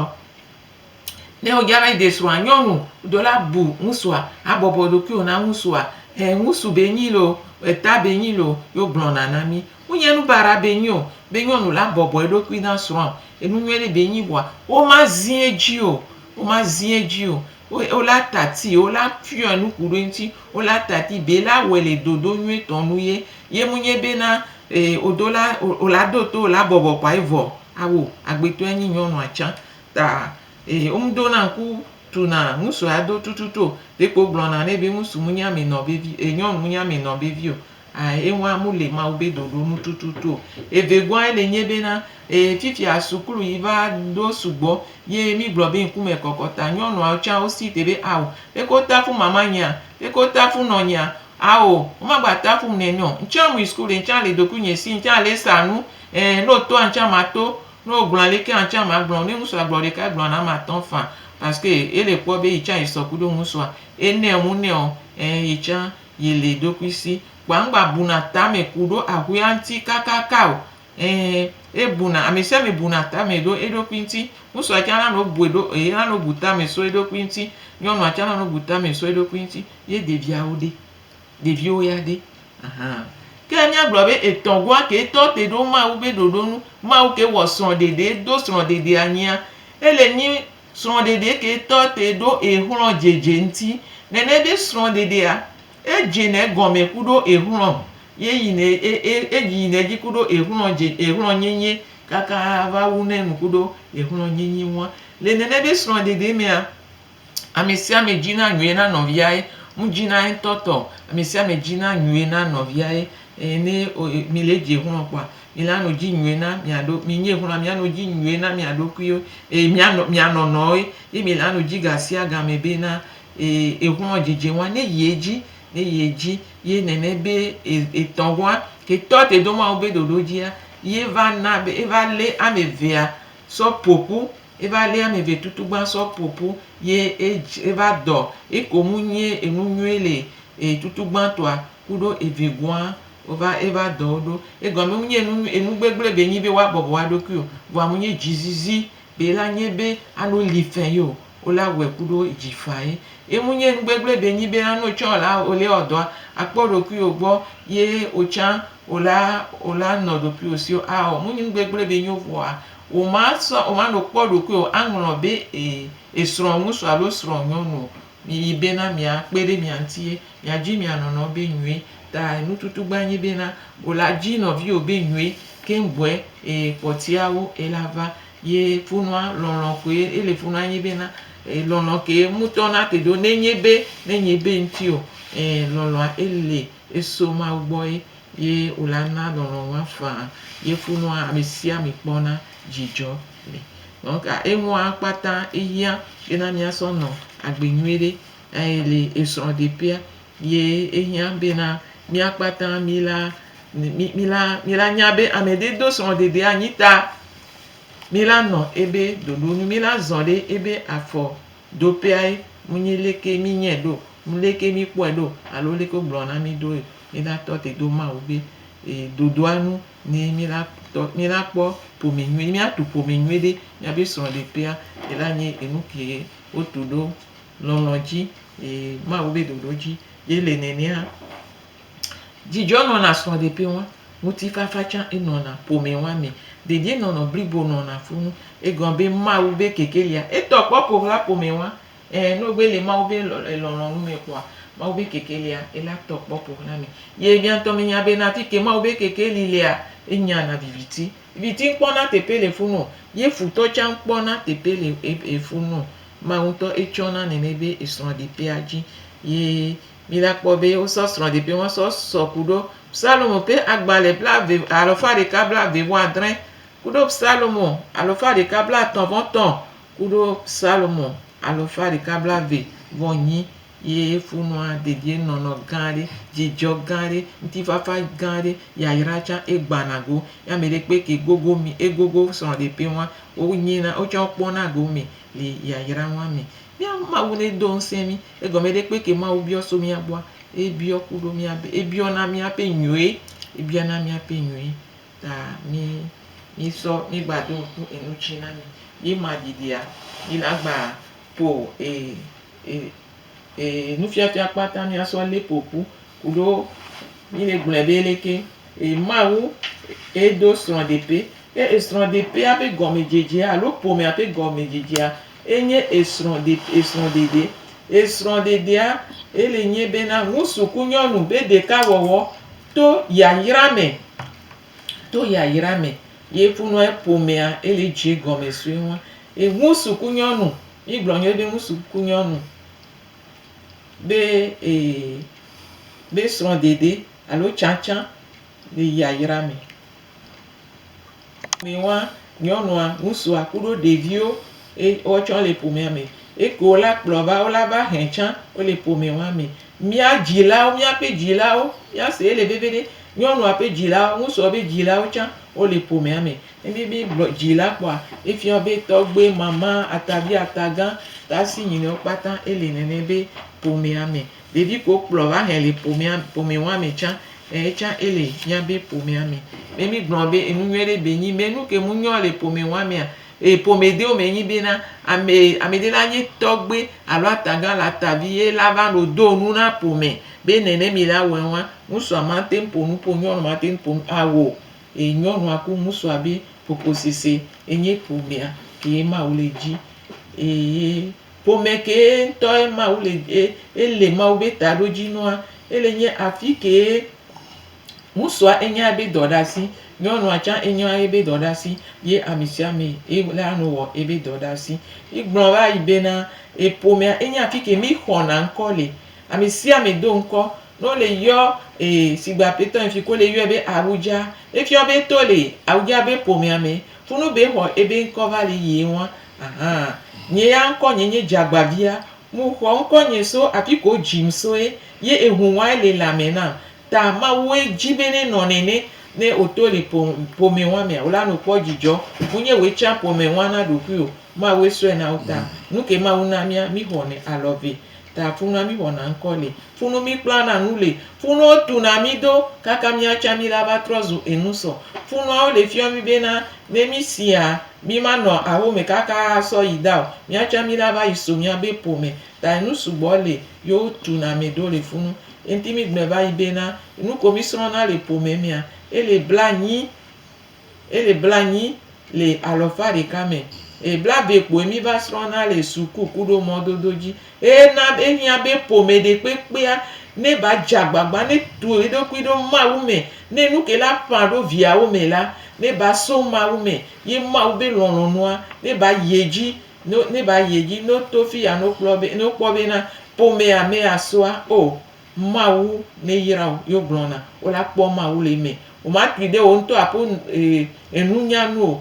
[SPEAKER 2] Ne wodze alɛ de srɔ̃a, nyɔnu ɖo la bu ŋusua habɔbɔ ɖokuiwò na ŋusua. Ẽ, ŋusu be nyi lo, eta be nyi lo, ye wogblɔna na mí. Wonye nu baɖa be nyi o be nyɔnu la bɔbɔ eɖokui na srɔ̃a. Enu nyui ɖe be nyi vɔa, womazi edzi o. Womazi edzi o. Wole ata tii, wole afiɔ̃e nu ku ɖe eŋuti. Wole ata tii be yele awɔe le ɖoɖo nyuitɔ nu ye. Ye menye be na wòɖo la, wòla do to wò la bɔbɔ kɔa ye vɔ. Ao, agbetɔe nyi nyɔnua tsã. ta eye womdona ŋku tuna ŋusu ya do tututu o. Ɖeko gblɔna nɛ be ŋusu mu nya mi nɔ vevi e nyɔnu mu nya mi nɔ vevi o. A eŋua mu le Mawu be ɖoɖo nu tututu o. Evegɔa ele nye bena e fifia suklu yi va ɖo sugbɔ ye mi gblɔ be ŋkume kɔkɔ ta nyɔnua tsa wo si te be ao leke wo tafu mama nyea? Leke wo tafu nɔ nyea? Ao woma gba tafum nɛ nɛ o. Ŋtsa mui suklu ɖe ŋtsa le ɖokuinye si ŋtsa le sa nu e ne wo toa ŋtsa ma to. Ne wo gblɔ aleke ya ŋtsia ma gblɔ o. Ne ŋutsua gblɔ ɖeka egblɔ na ame atɔ fã paske ele kpɔ be yitsa yi sɔ kuɖo ŋutsua. Enɛ ŋu nɛ ɔ ɛɛ yitsa yi le ɖokui si. Kpoa ŋgba buna tame kuɖo ahuia ŋti kakaka o. Ɛɛ ebuna amɛsiame buna tame ɖo eɖokui ŋti. Ŋutsua tsa na nɔ bue ɖo e na nɔ bu tame so eɖokui ŋti. Nyɔnua tsa na nɔ bu tame so eɖokui ŋti ye ɖeviawo ɖe. Ɖeviwo ya ɖe? Aha. Ke míagblɔ be etɔ̃gɔa kee tɔ te ɖo Mawu be ɖoɖo nu. Mawu kee wɔ srɔ̃ɖeɖe, do srɔ̃ɖeɖe anyia. Ele nyi srɔ̃ɖeɖe kee tɔ te ɖo exlɔ̃ dzedze ŋuti. Nene be srɔ̃ɖeɖea, edzena egɔme kuɖo exlɔ̃ ye yina e, e, edzi yina edzi kuɖo exlɔ̃ dze, exlɔ̃ nyenye kaka va wuna enu kuɖo exlɔ̃ nyenye ŋua. Le nene be srɔ̃ɖeɖe mea, Amesiame dzina nyui na nɔvia ye nu dzina yetɔ tɔ amesiame dzina nyui na nɔvia ye eye ne mile dzi xlɔ kpɔa mila nu dzi nyui na miaɖo minye xlɔa mia nu dzi nyui na mia ɖokuiwo eye mia nɔ mia nɔnɔ ye ye mila nu dzi gasia game be na eye exlɔ dzidzi wa ne yie dzi ne yie dzi ye nene be etɔ wa ke tɔ te do mawu be ɖoɖo dzia ye va na be eva le amevea sɔ ƒoƒu Eva lé ame ve tutugban sɔ po pu ye edj eva dɔ eko mu nyie enu nyuie le e tutugban tɔa kuɖo eve goa ova eva dɔ wo ɖo. Egɔme mu nyie enu enu gbegble be nyi be woa bɔbɔ woa ɖokui o vɔa mu nyie dji zizi be la nyie be ano li fɛ yeo wo la wɔe kuɖo dji faye. Emu nyie enu gbegble be nyi be la no tsã ola ole ɔ dɔa akpɔ ɖokui wo gbɔ ye otsã ola ola nɔ ɖokui wo sio a ɔ mu nyi nu gbegble be nyi wo vɔa Womasrɔ̃, womanɔ kpɔ ɖokui o, aŋlɔ be ee, esrɔ̃ŋusu alo srɔ̃nyɔnu o. Miyi bena miakpe ɖe mia ŋuti ye miadzi mia nɔnɔ be nyuie. Ta nututugba nyi bena, wò la dzi nɔviwò be nyuie keŋ gbɔe eye kpɔtiawo ela va. Ye funua, lɔlɔ̃ koe ele funua nyi bena, e, lɔlɔ̃ kee ŋutɔ na te ɖo nenye be, nenye be ŋuti o, e, lɔlɔ̃a ele, eso Mawu gbɔ ye. Ye wòla na lɔlɔ̃ ŋua faa, ye funua amesiame kpɔna dzidzɔ le. Nɔka eŋua kpata ehiã bena míasɔ nɔ agbe nyuiɖe eye le esrɔ̃ɖeƒea ye ehiã bena mía kpata míla, míla, míla nya be ameɖe do srɔ̃ɖeɖea anyi ta míla nɔ ebe ɖoɖo nu, míla zɔ ɖe ebe afɔ ɖoƒeae, munyi leke mínyɛ ɖo, leke míkpɔɛ ɖo alo leke wogblɔ na mí ɖoe. Mílatɔ te do Mawu be dodoa nu ni mílatɔ, mílakpɔ ƒome nyuie, míatu ƒome nyuie ɖe míabe srɔ̃ɖeƒea. Ela nye enu ke wotu ɖo lɔlɔ̃ dzi, Mawu be ɖoɖo dzi ye le nenea. Dzidzɔ nɔna srɔ̃ɖeƒe wa, ŋutifafa tsã enɔna ƒome wa me, dedienɔnɔ blibo nɔna fũ. Egɔme be Mawu be kekelia etɔ kpɔ ƒohlaƒome wa. Ẽ, ne wogbe le Mawu be lɔlɔ̃nu me kpɔa, Mawu be keke lia, ela tɔ kpɔ ƒo xlã mi. Ye mia ŋutɔ menya be na fike Mawu be keke li lea, enya na viviti. Viviti ŋkpɔ na teƒe le funu o, ye futɔ tsã ŋkpɔ na teƒe le ebe funu o. Mawu ŋutɔ etsɔ na nene be esrɔ̃ɖeƒea dzi. Ye mi la kpɔ be wosɔ srɔ̃ɖeƒe ŋua sɔ sɔ kuɖo Psalmo ƒe agbalẽ blaeve, alɔfa ɖeka blaeve vɔ adrẽ, kuɖo Psalmo alɔfa ɖeka blatɔ̃ vɔ tɔ̃ Kuɖo Salomo alɔfa ɖeka blave vɔ nyi ye funua dedie nɔnɔ gã ɖe, djidjɔ gã ɖe, ŋtifafa gã ɖe, yayra tsa e gbana go. Ye ameɖekpe ke gogo mi e gogo srɔ ɖe ƒe ŋua, wo nyina wo tsa wo kpɔna go me le yayra ŋua me. Mia Mawu ne do ŋsɛ mi, egɔme ɖekpe ke Mawu biɔ so mia gbɔa, e biɔ kuɖo mia be, e biɔna mia ƒe nyɔe, e biɔna mia ƒe nyɔe. Ta mí mí sɔ mí gba ɖo ŋku enu ci na mí yí ma ɖyiɖyia, yí na gba to e e e nufiafia kpata mía sɔ lé popu kuɖo mí le gblɔɛ be leke e Mawu e ɖo srɔɖepe. Ke esrɔɖepea be gɔmedzedzea alo ƒomea ƒe gɔmedzedzea e nye esrɔɖe esrɔɖeɖe. Esrɔɖeɖea e le nyi be na ŋusu ku nyɔnu be ɖeka wɔwɔ To yayra me. To yayra me ye ƒonɔ eƒomea ele dzi gɔme sue ŋu. Ŋutsu ku nyɔnu. Mí gblɔ nyuie be ŋutsu ku nyɔnu be e be srɔ̃ɖeɖe alo tsatsa le yayra me. Mi wa nyɔnua, ŋutsua kuɖo ɖeviwo ye woatsɔ le ƒomea me. Eke wola kplɔ va wola va hɛ tsã wole ƒome wa me. Mía dzilawo, míaƒe dzilawo, míase ele veviɖe, nyɔnua ƒe dzilawo, ŋutsua ƒe dzilawo tsã wole ƒomea me. Ne mí mí gblɔ dzila kpɔa, efia be tɔgbe, mama, atavi, atagã, tasi nyinɔwo kpata ele nene be ƒomea me. Ɖevi ko kplɔ va hɛ le ƒomea ƒome wa me tsã eyi tsã ele mía be ƒomea me. Ne mí gblɔ be enu nyuie ɖe be nyi be nu ke mu nyɔ le ƒome wa mea e ƒome dewo me nyi bena ame ame ɖe la nye tɔgbe alo atagã alo atavi ye la va nɔ do nu na ƒome be nene mi la wɔe wa ŋusua ma te ŋu ƒo nu ƒo nyɔnu ma te ŋu ƒo nu ao e nyɔnua ku ŋusua be ƒoƒo sese enye ƒomea ke ye ma wo le dzi eye Ƒome kee ŋutɔe Mawu le eye ele Mawu be taɖodzinua. Ele nye afi kee ŋutsua enye ebe dɔɖasi, nyɔnua tsã enye ebe dɔɖasi ye amesiame ele anɔ wɔ ebe dɔɖasi. Egblɔ va yi bena eƒomea enye afi ke mi xɔna ŋkɔ le. Amesiame do ŋkɔ ne wole yɔ ee sigbe aƒetɔ yi fi ke wole yɔe be Awudza. Efia be to le Awudza be ƒomea me funu be exɔ ebe ŋkɔ va le yie ŋua. Ahan, nye ya ŋkɔ nye nye dzagbavia, mu xɔ ŋkɔ nye so afiko wo dzim soe, ye ehu ŋwae le lãme nam. Ta Mawue dji be ne nɔ nɛnɛ, ne wo to le po pome ŋwa mea, wo la no kpɔ djidjɔ. Mu nye woe tsa pome ŋwa na ɖokuiwo, Mawue sɔe na wo ta. Nuke Mawu na mia, mi xɔ nɛ alɔ ve. Ta funua mí wɔna ŋkɔ li. Funu mí kplana nu li. Funuwo tuna mí do kaka míatsa mí la va trɔ zu enu sɔ. Funuawo le fiɔ mí bena ne mí sia mí ma nɔ aho me kaka asɔ yi da o, míatsa mí la va yi so mía be po me. Ta enu sugbɔ le yo wo tuna ame do le funu. Enti mí gblɔɛ va yi bena, enu ko mí srɔna le po me mea, ele bla nyi. Eye blanyi le alɔfa ɖeka me. Eye blave kpoe mi va srɔna le suku kuɖo mɔdodo dzi. Eye na ehia be ƒome ɖekpekpea ne va dze agbagba ne tu eɖokui ɖo Mawu me. Ne nuke la ƒã ɖo viawo me la, ne va so Mawu me, ye Mawu be lɔlɔnua ne va yi edzi, ne va yi edzi. Ne woto fiya ne wokpɔ be na ƒomea mea soa, oh, Mawu ne yra wo ye wogblɔ na wo la kpɔ Mawu le eme. Woma tui ɖe wo ŋutɔ aƒe enunya nu o.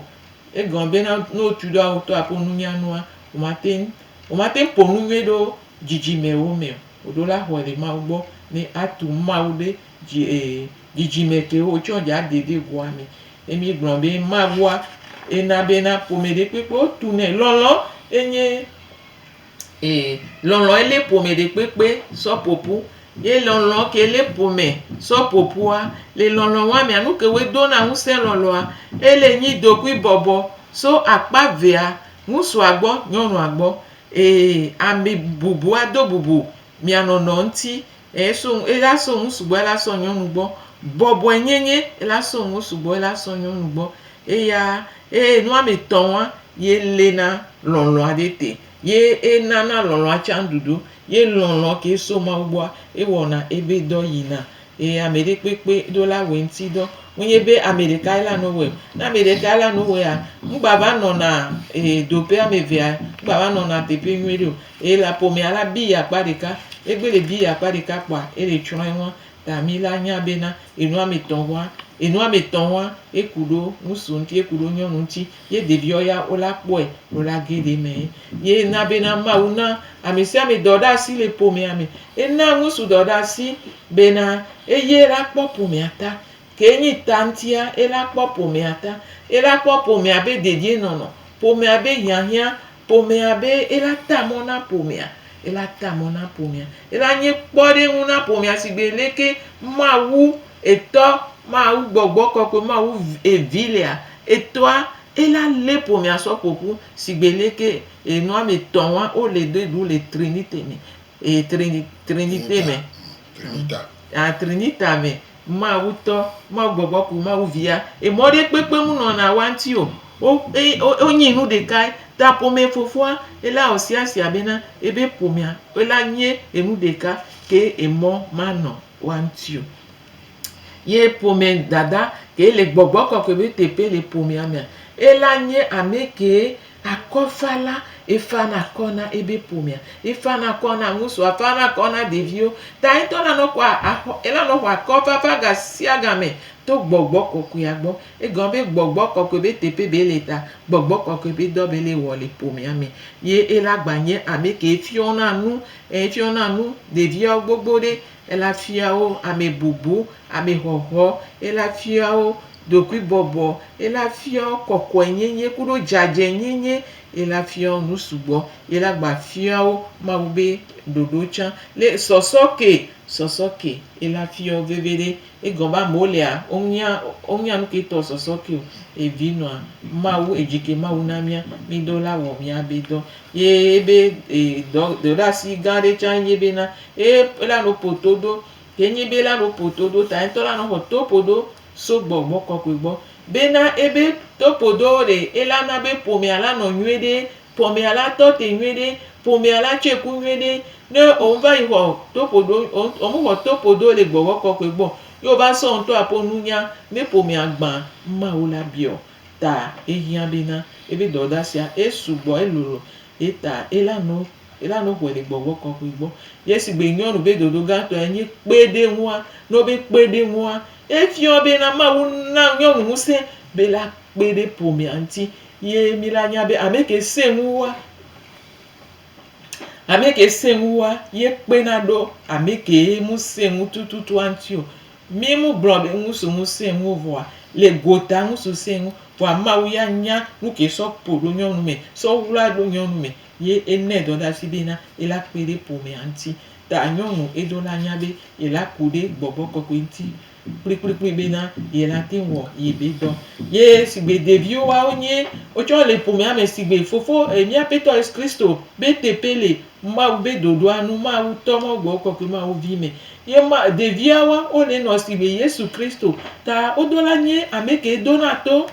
[SPEAKER 2] Egɔme be na ne wotui ɖe woawo ŋutɔ aƒe nunya nua, woma teŋ, woma teŋ ƒo nu nyuie ɖo dzidzime wo me o. Woɖo la xɔe le Mawu gbɔ ne atu Mawu ɖe dzi dzidzime ke wo tsɔ dza de ɖe goa me. Ne mi gblɔ be Mawua ena be na ƒome ɖe kpekpe o tu nɛ. Lɔlɔ enye. Ee, lɔlɔ̃ ye lé ƒome ɖekpekpe sɔ ƒoƒu. Ye lɔlɔ̃ ke lé ƒome sɔ ƒoƒua, le lɔlɔ̃ wamea, nu ke woe dona ŋusẽ lɔlɔ̃a, ele nyi ɖokuibɔbɔ so akpa vea, ŋusua gbɔ, nyɔnua gbɔ. Ee, ame bubua do bubu mia nɔnɔ ŋuti Eye so ŋu, ela so ŋu sugbɔ, ela sɔ nyɔnu gbɔ. Bɔbɔe nye nye, ela so ŋu sugbɔ, ela sɔ nyɔnu gbɔ. Eya, eye nuame tɔ ŋua, ye le na lɔlɔ aɖe te. Ye ena na lɔlɔa tsan ɖuɖu. Ye lɔlɔ ke so Mawu gbɔa, ewɔ na ebe dɔ yi na. Eye ame ɖe kpekpe ɖo la wɔ eŋuti dɔ. Wo nye be ame ɖeka ye la nɔ wɔe. Ne ame ɖeka ye la nɔ wɔea, ŋgba va nɔna e ɖoƒe ame evea, ŋgba va nɔna teƒe nyuie ɖeo. Eye le aƒomea la, biyi akpa ɖeka. Egbe le biyi akpa ɖeka kpoa, ele tsrɔ̃ eŋua. Ta mi la nya be na enu ame etɔ̃ ŋua, enu ame etɔ̃ ŋua, eku ɖo ŋusu ŋuti, eku ɖo nyɔnu ŋuti. Ye ɖeviɔ ya wo la kpɔɛ wo la ge ɖe eme. Ye na be na Mawu na ame sia ame dɔɖeasi le ƒomea me. Ena ŋusu dɔɖeasi be na eye la kpɔ ƒomea ta. Kee nyi ta ŋtia, ela kpɔ ƒomea ta. Ela kpɔ ƒomea be dedienɔnɔ, ƒomea be hiahiã, ƒomea be ela ta mɔ na ƒomea. Ela ta mɔ na ƒomea. Ela nye kpɔɖeŋu na ƒomea sigbe leke Mawu Etɔ, Mawu Gbɔgbɔ Kɔkɔe, Mawu Vi lea. Etɔa, ela lé ƒomea sɔ ƒo ƒu sigbe leke nɔametɔ̃ wa wole ɖe ɖu le Trinite me, Trinite me, Trinita me. Mawu tɔ, Mawu gbɔgbɔ ku Mawu via ye mɔ ɖe kpekpe mu nɔ na wa ŋti o. Wo e wo nyi nu ɖeka ye ta ƒomɛ fofoa e la wɔ sia sia be na e be ƒomea e la nyi enu ɖeka ke e mɔ ma nɔ wa ŋti o. Ye ƒomɛ dada ke le gbɔgbɔ kɔkɔe be teƒe le ƒomea mea e la nyi amɛ ke. Akɔfala, efana akɔ na ebe ƒomea, efana akɔ na ŋutsua, efana akɔ na ɖeviwo, ta yetɔ la nɔ xɔa axɔ, ela nɔ xɔ akɔfafa gasiagame to Gbɔgbɔ Kɔkɔea gbɔ. Egɔme be Gbɔgbɔ Kɔkɔe be teƒe be le ta, Gbɔgbɔ Kɔkɔe be dɔ be le wɔ le ƒomea me. Ye ela gba nye ameke fiɔna nu, e fiɔna nu ɖeviawo gbogbo ɖe. Ela fiawo amebobo, amexɔxɔ, ela fiawo ɖokuibɔbɔ, ela fiawo kɔkɔenyenye kuɖo dzadzɛnyenye, ela fiawo nu sugbɔ, ela gba fiawo Mawu be ɖoɖo tsã. Le sɔsɔke, sɔsɔke, ela fiawo veveɖe. Egɔme amewo lea, wonya, wonya nuke tɔ sɔsɔke o. Evi nɔa Mawu, edzi ke Mawu na mía, mí dɔ la wɔ mía be dɔ. Ye ebe e dɔ, dɔɖeasi gã ɖe tsã ye bena, Ye ela no po to ɖo. Ke nyi be ela no po to ɖo ta ŋtɔ la no xɔ to po ɖo so gbɔ gbɔ kɔkɔe gbɔ. Be na ebe to po ɖo ɖe ela na be ƒomea la nɔ nyuie ɖe, ƒomea la tɔ te nyuie ɖe, ƒomea la tsɔe ku nyuie ɖe. Ne wo va yi xɔ to po ɖo, wo me xɔ to po ɖo le gbɔgbɔ kɔkɔe gbɔ, ye wo va sɔ ŋtɔ aƒo nunya ne ƒomea gbã Mawu la biɔ ta ehiã be na ebe dɔdasia esu gbɔ, elolo. Ye ta ela no. Ela no xɔe le gbɔgbɔ kɔkɔe gbɔ. Yesu gbe nyɔ nu be dodo gãtɔe nye kpe ɖe eŋua. Ne wobe kpe ɖe eŋua, efiɔ be na Mawu na nyɔnu ŋusẽ be la kpe ɖe ƒomea ŋuti ye mi la nya be ame ke sẽ ŋu wua, ame ke sẽ ŋu wua ye kpe na ɖo ame ke mu sẽ ŋu tututua ŋuti o. Mi mu gblɔ be ŋusu ŋu sẽ ŋu o vɔa le gota ŋusu sẽ ŋu vɔa Mawu ya nya nu ke sɔ ƒo ɖo nyɔnu me sɔ wla ɖo nyɔnu me. Ye enɛ dɔdasi be na ela kpe ɖe ƒomea ŋti. Ta nyɔnu edo la nya be yela ku ɖe gbɔgbɔ kɔkɔe ŋti kplikplikpli be na yela teŋ wɔ ye be dɔ. Ye sigbe ɖeviwo wa wo nye wo tsɛ wole ƒomea me sigbe fofo mía ƒetɔ Yesu Kristo be teƒe le Mawu be ɖoɖoa nu, Mawu tɔ Mawu gbɔgbɔ kɔkɔe Mawu vi me. Ye ma ɖevia wa wo le nɔ sigbe Yesu Kristo. Ta wodo la nye ameke dona to.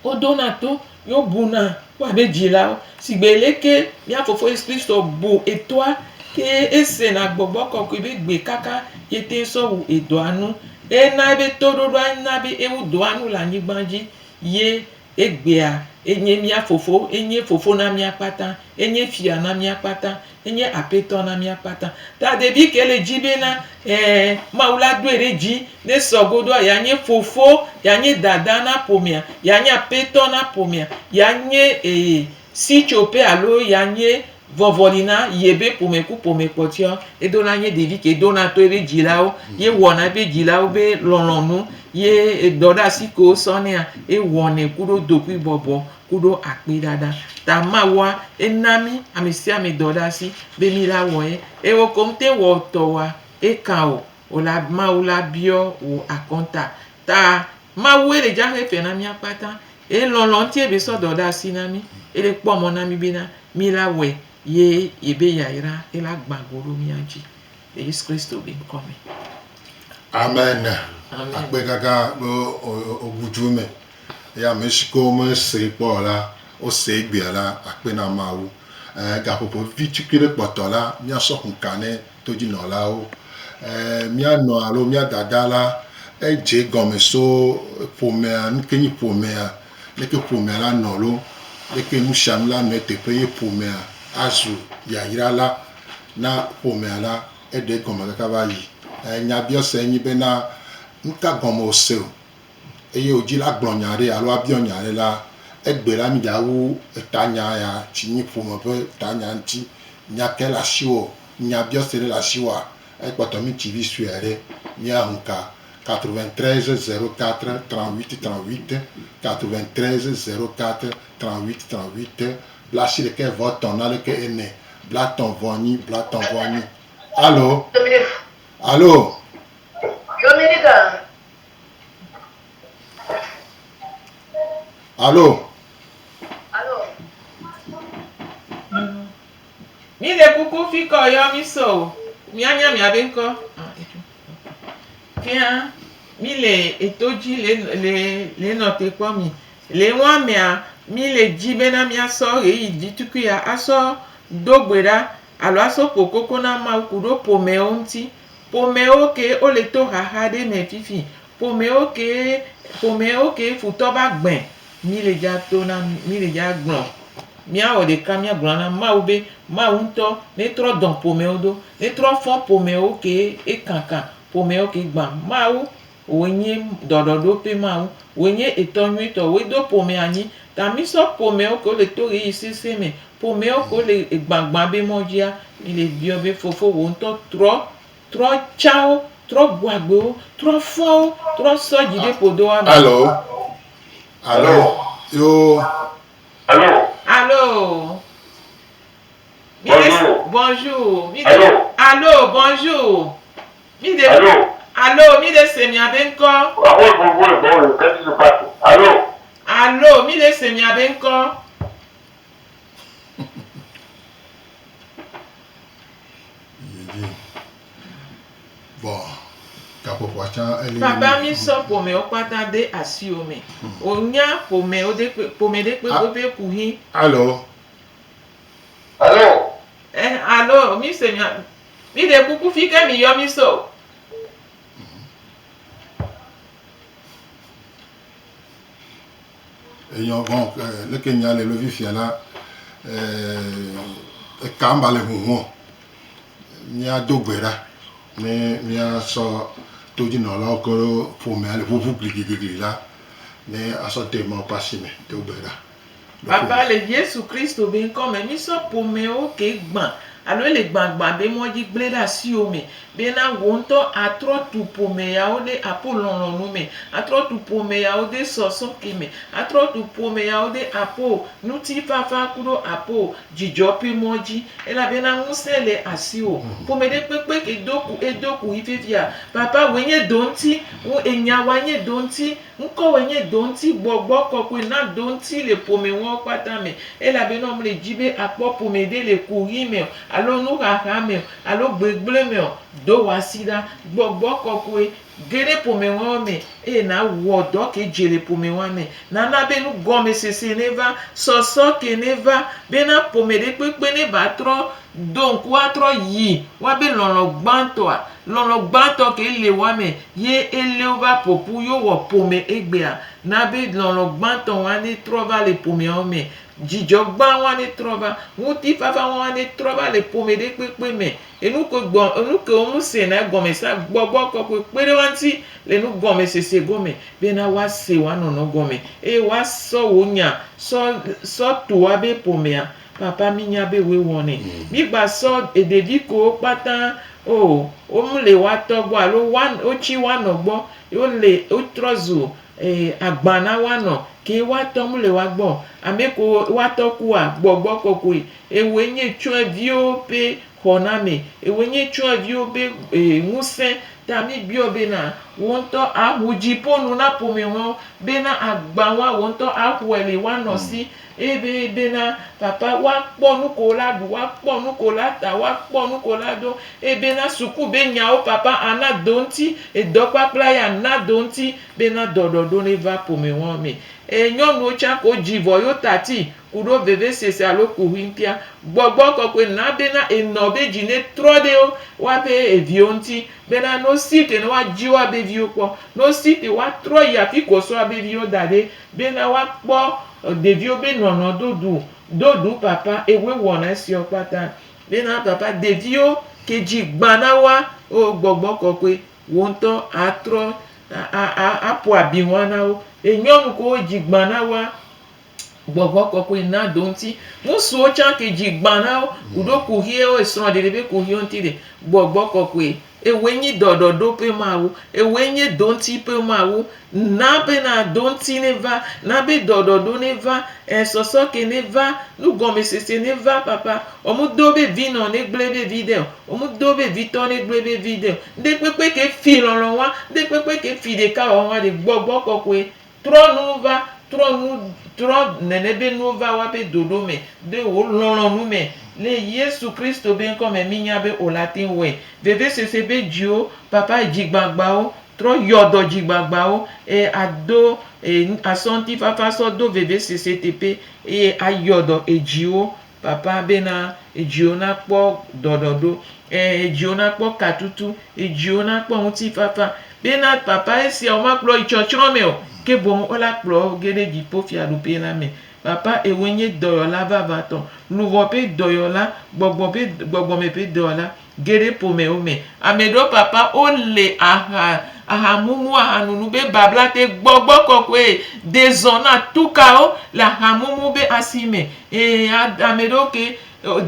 [SPEAKER 2] Woɖona to ye wobuna woabe dzilawo. Sigbe leke mía Fofo Yesu Kristo bu etoa eye esena gbɔgbɔ kɔkɔe be gbe kaka yete sɔ wu edɔa nu. Ena ebe toɖoɖoa na be ewu dɔa nu le anyigba dzi ye egbea enye mía Fofo. Enye Fofo na mía kpata. Enye Fia na mía kpata. Enye Apetɔ na mía kpata. Ta David ke le dzi be na, ẽ, Mawu la doe ɖe dzi ne sɔ godoa, yeanye fofo, yeanye dada na ƒomea, yeanye apetɔ na ƒomea, yeanye, ee, sitsoƒe alo yeanye vɔvɔli na yebe ƒome ku ƒome kpɔtɔeawo. Edo na ye ɖevi ke dona to ebe dzilawo ye wɔna ebe dzilawo be lɔlɔ̃nu ye edɔɖeasi ke wosɔ nɛa, ewɔnɛ kuɖo dokuibɔbɔ. kuɖo akpiɖaɖa ta Mawua é na mí amɛsiamɛ dɔ ɖe asi be mí la wɔ ye. Eo koŋ tɛn wɔ tɔwoa é kan eo o la Mawu la biɔ wò akɔnta ta Mawué le jaxé fɛ na mía kpata. É lɔnlɔn ŋuti é be sɔ dɔ ɖe asi na mí. É le kpɔ mɔ na mí be na mí la wɔɛ ye ye be yayra é la gbã go ɖo mía dji le Yesu Kristo be ŋkɔ me. Amen. Amen.
[SPEAKER 1] Akpe gãgã be wo gu dju me. Eye ame si ke womesee kpɔ o la, wosee egbea la, akpe na Mawu. E, gaƒoƒo vivi tukui ɖe kpɔtɔ la, míasɔ ku ka ne todzinɔlawo. E, mía nɔa alo mía dada la, edze egɔme so ƒomea, nu ke nyi ƒomea, leke ƒomea la nɔ lo, leke nu sia nu la nɔ eteƒe ye ƒomea azu yayra la na ƒomea la, eɖe egɔme kaka va yi. E, nyabiɔsae nye bena, Nu ka gɔme wòse o? eye wò dzila gblɔ nya aɖe alo abiɔ nya aɖe la, egbe la mi ɖa wu etanya ya tsi nyi ƒome ƒe tanya ŋuti nya ke le asiwò, nya biɔse ɖe le asiwòa, ekpɔtɔ mi tsi vi sue aɖe mi a ŋu ka 93 04 38 38 93 04 38 38 bla si ɖekɛ vɔ etɔ na ɖekɛ ene bla tɔ vɔ nyi bla tɔ vɔ nyi alo alo. Alo. Alo.
[SPEAKER 2] Mi de kuku fi kɔ yɔ mi so o. Mianya miabe ŋkɔ. Fia mi le eto dzi le le le nɔ te kpɔ mi. Le ŋua mea mi le dzi bena miasɔ ɣeyiɣi ɖitukuia asɔ do gbe ɖa alo asɔ ƒo koko na Mawu ku ɖo ƒomɛwo ŋuti. Ƒomewo kee wole to xaxa ɖe me fifi. Ƒomewo kee, ƒomewo kee futɔ va gbẽ. Mí le dza to na, mí le dza gblɔ. Míawɔ ɖeka míagblɔ na Mawu be, Mawu ŋutɔ netrɔ dɔ̃ ƒomewo do. Netrɔ fɔ̃ ƒomewo kee ekankan, ƒomewo kee gbã. Mawu Wòe nye ɖɔɖɔɖoƒe Mawu. Wòe nye Etɔ nyuitɔ. Wòe do ƒome anyi. Ta mísɔ ƒomewo kewo le to ɣeyiɣi sesẽ me, ƒomewo kewo le gbãgbã be mɔ dzia, míle biɔ be, Fofo, wò ŋutɔ trɔ, trɔ tsa wo, trɔ bu agbe wo, trɔ fɔ wo, trɔ sɔ dzideƒodɔwɔame. Alo.
[SPEAKER 1] Alo. Yoo. Alo.
[SPEAKER 2] Míde se. Bonjour. Míde. Alo. Alo. Bonjour. Alo. Alo, mí ɖe se mia be ŋkɔ. Aho vo
[SPEAKER 1] vo le bɔl ke ti so pa ko. Alo. Alo, mí ɖe se mia be ŋkɔ. Papa mi sɔ ƒome
[SPEAKER 2] wo kpata de asi wo me. Wo nya ƒome wo de kpe ƒome ɖe kpe go be ku hi. Alo. Alo. Alo, mi se mia. Mi ɖe kuku fi ke mi yɔ mi so.
[SPEAKER 1] Eyɔ gɔn ɛ eh, leke nya le lovi fia la ɛ eh, eka mba le huhun. Mia do gbe ɖa ne mia sɔ todzinɔlawo ke ƒomea le ʋuʋu gligligligli la ne asɔ demɔkpasi me do gbe ɖa. Baba le
[SPEAKER 2] Yesu Kristo be ŋkɔ me, mísɔ ƒomewo ke gbã alo ele gbagbã be mɔ dzi gblẽ ɖe asiwò me bena wò ŋutɔ atrɔ tu ƒome yawo ɖe apo lɔlɔ̃nu me, atrɔ tu ƒome yawo de sɔsɔ ke me, atrɔ tu ƒome yawo de apo ŋutifafa kuɖo apo dzidzɔ ƒe mɔ dzi. Elabena ŋusẽ le asiwò. Ƒomeɖekpekpe ke do ku edo ku yi fifia. Papa, wòe nye do ŋuti ŋu enya wa nye do ŋuti. Ŋkɔwoe nye do ŋuti gbɔgbɔ kɔkɔe na do ŋuti le ƒome ŋɔwo kpata me, elabe ne womle dzi be akpɔ ƒome ɖe le kuɣi me o, alo nuxaxa me o, alo gbegblẽ me o, do wò asi ɖa. Gbɔgbɔ kɔkɔe ge ɖe ƒome ŋɔwo me eye nàwɔ dɔ ke dze le ƒome ŋɔa me. Nana be nugɔmesese neva, sɔsɔ ke neva, bena ƒome ɖe kpekpe neva trɔ Do ŋku atrɔ yi wa be lɔlɔ gbãtɔa, lɔlɔ gbãtɔ ke le wa me ye e le wo va ƒoƒu yo wɔ ƒome egbea. Na be lɔlɔ gbãtɔ wa ne trɔ va le ƒomea wo me. Jijɔ gbã wa ne trɔ va. Ŋuti fafa wa ne trɔ va le ƒome ɖe kpekpe me. Enu ke gbɔ, enu ke wo ŋu se na egɔme sa gbɔgbɔ kɔkɔe kpe ɖe wa ŋuti le nu gɔme sese gɔ me be na wa se wa nɔnɔ gɔme eye wa sɔ wo nya sɔ, sɔ to wa be ƒomea. Papa mi nya be woe wɔ nɛ. Mi gba sɔ ɖevi kowo kpata o wo mu le woa tɔ gbɔ alo woa wo tsi woa nɔ gbɔ ye wo le wo trɔ zu agba na woa nɔ ke woa tɔ mu le woa gbɔ o. Ame ko woa tɔ kua gbɔgbɔ kɔkɔe ewoe nye tsɔe viwo be xɔ na me ewoe nye tsɔe viwo be ŋuse ta mi gbiɔ be na wo ŋtɔ a ƒo dzi ƒo nu na ƒome hɔn be na agba woa wo ŋtɔ a xɔe le woa nɔ si. eye be bena papa woakpɔ nuke wola ɖu, woakpɔ nuke wola ta, woakpɔ nuke wola do, eye bena suku be nyawo papa ana do ŋuti, edɔ kpakpla ya ana do ŋuti bena dɔ ɖɔɖo neva ƒome wɔwɔ me. Eye nyɔnuwo tsã ke wodzi vɔ yewo tati kuɖo vevesese alo kuxuiŋtia, gbɔgbɔ kɔkɔe na bena enɔ be dzi ne trɔ ɖe wo woaƒe eviwo ŋuti bena ne wosi ke ne woadzi woabe viwo kpɔ, ne wosi ke woatrɔ yi afike wosɔ woabe viwo da ɖe Bena woakpɔ ɖeviwo be nɔnɔ dodu dodu papa ewe wɔna esiɔ kpata. Bena papa ɖeviwo ke dzi gba na woa o gbɔgbɔ kɔkɔe wo ŋtɔ a trɔ a a a ƒo abi hɔa na wo. Enyɔnu kewo dzi gba na woa gbɔgbɔ kɔkɔe na do ŋti. Ŋsuwo tsa ke dzi gba na wo kuɖo kuxiɛ wo esrɔ ɖeɖe be kuxiɛ ŋti ɖe gbɔgbɔ kɔkɔe Ewòe nyi ɖɔɖɔɖo ƒe Mawu. Ewòe nye doŋti ƒe Mawu. Na bena doŋti neva. Na be ɖɔɖɔɖo neva. Ɛ̃, sɔsɔke neva. Nugɔmesese neva, Papa. Womedo be vinɔ negblẽ veviɖe o. Womedo be vitɔ negblẽ veviɖe o. Ŋɖekpekpe ke fi lɔlɔ̃ wa. Ŋɖekpekpe ke fi ɖekawɔwɔa ɖe. Gbɔgbɔ Kɔkɔe, Trɔ nuwo va, trɔ nu, trɔ nene be nuwo va wa be doɖo me, ɖe wò lɔlɔ̃nu me, le Yesu Kristo be ŋkɔ me, mínya be wò le ate ŋu wɔe. Veveseseɛ be dziwo, papa dzigbagbawo, trɔ yɔ dɔ dzigbagbawo, eye ado e, asɔ ŋutifafa sɔ do veveseseɛ teƒe, eye ayɔ dɔ edziwo. Papa bena edziwo nakpɔ dɔɖɔɖo, ẽ, edziwo nakpɔ katutu, edziwo nakpɔ ŋutifafa, bena Papa esiawo makplɔ yi tsɔtsrɔ̃ me o, ke boŋ wola kplɔ wo ge ɖe Dziƒofiaɖuƒe la me. Papa, Ewòe nye dɔyɔla vavãtɔ, luʋɔ ƒe dɔyɔla, gbɔgbɔ ƒe, gbɔgbɔme ƒe dɔyɔla, Ge ɖe ƒomewo me, ame ɖewo papa wo le aha, aha mumu, aha nunu be babla te gbɔgbɔ kɔkɔe de zɔ na tukawo le aha mumu be asi me. Ee, ame ɖewo ke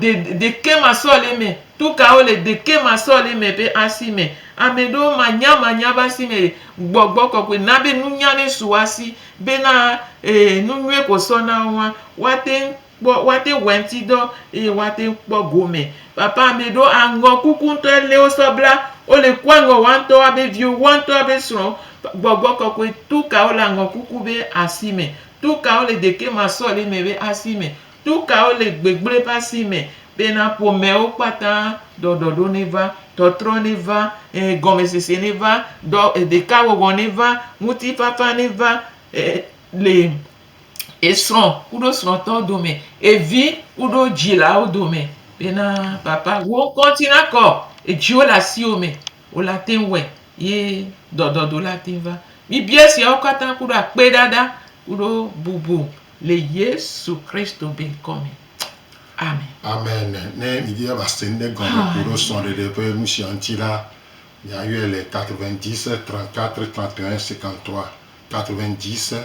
[SPEAKER 2] de, deke masɔle me, tukawo le deke masɔle me be asi me. Ame ɖewo manya manya be asi me gbɔgbɔ kɔkɔe na be nunya ne su asi be na, ee, nu nyuie ko sɔ na wo wa, woate ŋu. kpɔ woate ŋu wɔe ŋuti dɔ eye woate ŋu kpɔ gome. Papa ame ɖewo aŋɔ kuku ŋutɔ ele wosɔ bla wo le ku aŋɔ woa ŋutɔ woa be viwo woa ŋutɔ woa be srɔ̃wo. Gbɔgbɔ kɔkɔe to kawo le aŋɔ kuku be asi me? To kawo le ɖeke ma sɔ le eme be asi me? To kawo le gbegblẽ ƒe asi me be na ƒomeawo kpata ɖɔɖɔɖo neva, tɔtrɔ neva, ɛɛ gɔmesese neva, dɔ ɖeka wɔwɔ neva, ŋutifafa neva le esrɔ̃ kuɖo srɔ̃tɔwo dome, evi kuɖo dzilawo dome bena, Papa, wò ŋkɔ ŋuti nakɔ, edziwo le asiwò me, wò la te ŋu wɔe, ye dɔdɔdɔ la te ŋu va. Mibia esiawo katã kuɖo akpeɖaɖa kuɖo bubu le Yesu Kristo be ŋkɔ me. Amen. Amen.
[SPEAKER 1] Ne midi be mase nuɖe gɔme ku ɖo srɔ̃ɖeɖe ƒe nusia ŋuti la, miayɔe le 90 34 31 53, 90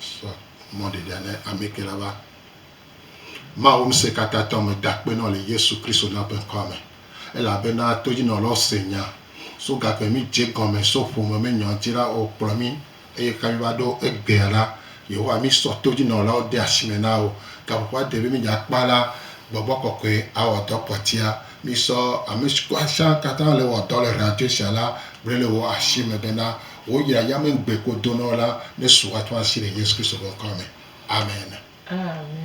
[SPEAKER 1] Sɔ mɔ ɖeɖe ne amɛke la va. Mawu ŋsɛkatãtɔ me dakpenɔ le Yesu Kristo na ƒe ŋkɔa me. Elabena todjinɔlɔ se nya so gaƒe mi dje gɔnmɛ so ƒome me nyɔ dji la o kplɔ mi eye ka mi va ɖo egbea la Yehowa mi sɔ todjinɔlawo de asime na wo. Gaƒoƒo aɖe be mi dja kpa la gbɔgbɔ kɔkɔɛ awɔ dɔ kpɔtia mi sɔ amɛskuasian katã le wɔ dɔ le radio sia la gble le wo asime bena Woyra yamɛŋgbe kpo donɔ la ne su atɔ asi le Yesu Kristo be ŋkɔ me. Amen. Amen.